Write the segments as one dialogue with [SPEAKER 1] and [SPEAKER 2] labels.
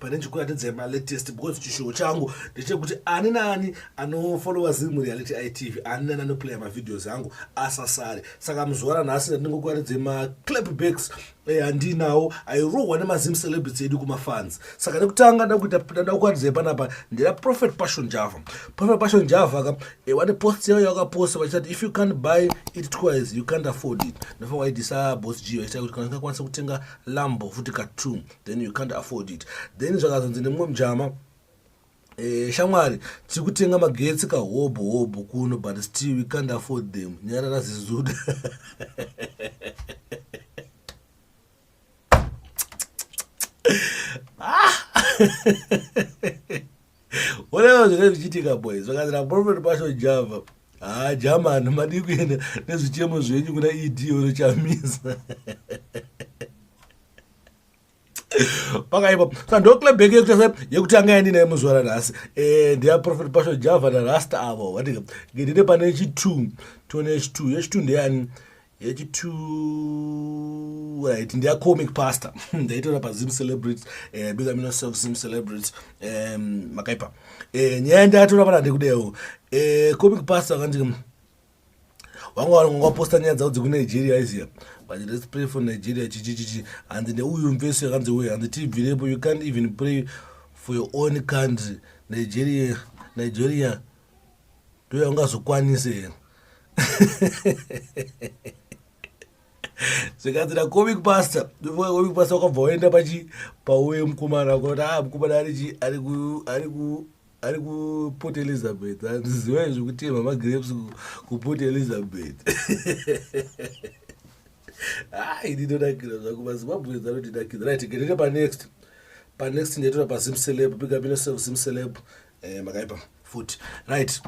[SPEAKER 1] pane chikuratidza yema latest because chishowo changu ndechekuti ani naani anofollowa zimu reality itv ani naani anoplaya mavideos angu asasare saka muzuva ranhasi ndandingokuratidza maclapbacks eh, andinawo airohwa nemazim celebrity edu kumafans saka nekutanga ndakutanda kukuratidza yepanapa ndira prophet passion java prophet passion java ka eh, wane post yavo yavakaposta vachitati if you can't buy it twice you can't afford it ndofa waidisa bos g vachita kuti kana tingakwanisa kutenga lambo futi ka two then you can't afford it then zvakazonzi nemumwe mujama Eh, shamwari tiri kutenga magetsi kahobho hobho kuno but still we can't afford them nyarara zizuda ah! onevo zvinge zvichiitika boys vakazira profet pasho java haa ah, jamani madii kuenda nezvichemo zvenyu kuna ed unochamisa pakaipa saka ndoclebek yekutanga yandinaye muzuva ranhasi eh, ndeyaprofet pasho java narasta avo vatika ndine pane chitwo tione yechitwo yechitwo ndeyani yechitwo right ndeyacomic pastor ndaitora pazim celebrity eh, big amino self zim celebrity makaipa eh, nyaya ndayatora pana ndikudewo comic pastor akanditika wanga waposta nyaya dzavo dzekunigeria aiziva but let's pray for nigeria chichichichi hanzi neuyu mvesi yakanzi uye hanzi tibvirepo you can't even pray for your own country nigeria nigeria ndo yaungazokwanise here zvikanzira comic pastor comic pastor wakabva waenda pachi pauye mukomana kuti a ah, mukomana arichi ari ku ari kuport elizabeth handiziva izvi kutema magrapes kuport elizabeth hai ndinonakira zvangu mazimbabwens anondinakira right gerere panext panext ndaitora pazim celeb pikapino zim celeb eh, makaipa futi right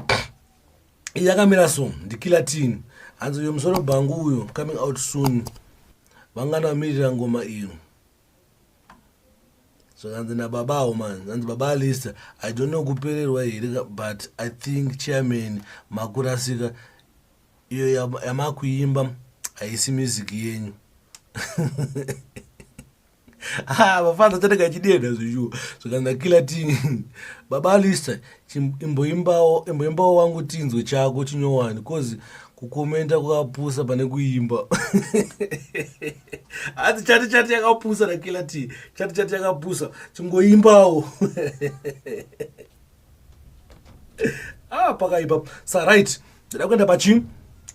[SPEAKER 1] yakamira so ndikilatin hanzi uyo musoro bhangu uyo coming out soon vangana vamirira ngoma iyo zvakanzi nababa awo man zanzi baba alista i don't know kupererwa here but i think chairman makurasika iyo yamakuimba haisi music yenyu ah, vafana tateka chideda zveshuwa zvakanzi akila ti baba alista imboimbawo imboimbawo wangu tinzwe chako chinyowani cause kukomenta kwakapusa pane kuimba hati chati chati yakapusa rakila ti chati chati yakapusa chingoimbawo ah pakaipa sa right ndida kuenda pachi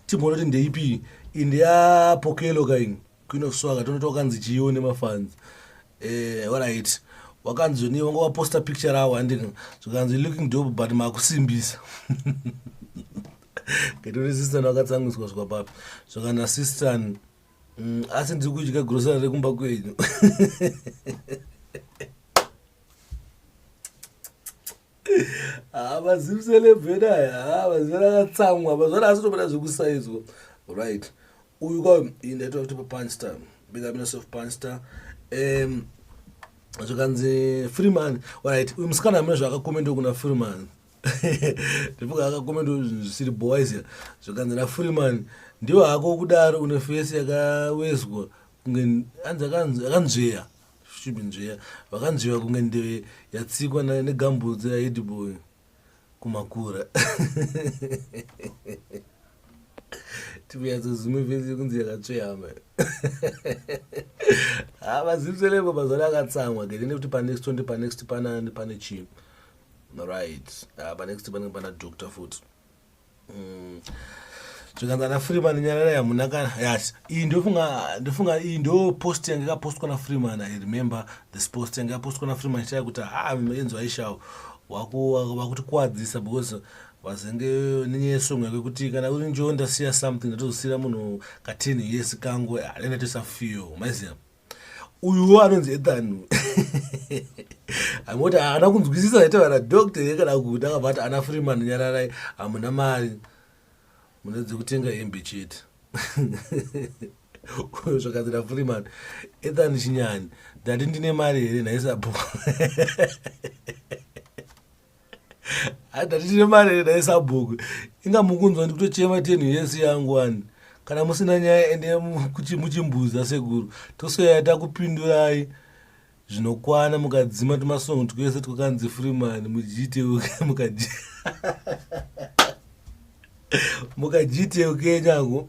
[SPEAKER 1] timboona kuti ndeipi indeyapokelo kaini queen of swaga tonoti wakanzi chiiwo nemafans eh, alright wakanzi zvoni wanga waposta picture rawo handika zvikanzi looking dope but makusimbisa ngetori sistan wakatsangiswa zvikwa papi zvakana sistan mm, asi ndiri kudya grosari rekumba kwenyu haa mazimselebhena haa mazimsele akatsamwa mazvana asitombona zvekusaidzwa right uyu kwa ndaitwa kuti papanster big up yourself panster um zvikanzi freeman right uyu musikana amene zvaakakomenda kuna freeman ndipoka akakomenda zvisiri boysia zvikanzi nafreeman ndiwo hako kudaro une fesi yakawezwa kunge anzi akanzveya Stupid nzvera vakanzviva kunge ndeve yatsikwa na- negambutsu yaedboy kumakura tivyatsozume vese yekunzi yakatsveyama ha mazimselebo mazana akatsamwa gede nekuti panext tonde panext panani pane chii right ha panext panenge pana doctor futi zvikanzi ana freeman nyarara yamuna kana yes iyi ndofunga ndofunga iyi ndo post yange yakapostwa nafreeman i remember this post yange yapostwa nafreeman ichitaya kuti ha enzo aishawo vakutikuwadzisa because vazenge nenyaya yesongo yake kuti kana uri njonda siya something ndatozosiyira munhu katini yesi kangu anenge ah, toisa feel maiziva uyuwo anonzi ethan amoti haana kunzwisisa zaita vana doctor ye kana kuti akabva ati ana freeman nyararai hamuna mari mune dzekutenga hembe chete zvakanzi nafreeman ethan chinyani ndati ndine mari here nhaisabho adatitire mari here dai sabhuku inga mukunzwa ndikutochema tenhu yese yangu wani kana musina nyaya ende muchimbuza sekuru tosoyaya takupindurai zvinokwana mukadzima tumasongo twese twakanzi freeman mujiteuke mukaji mukajiteuke nyangu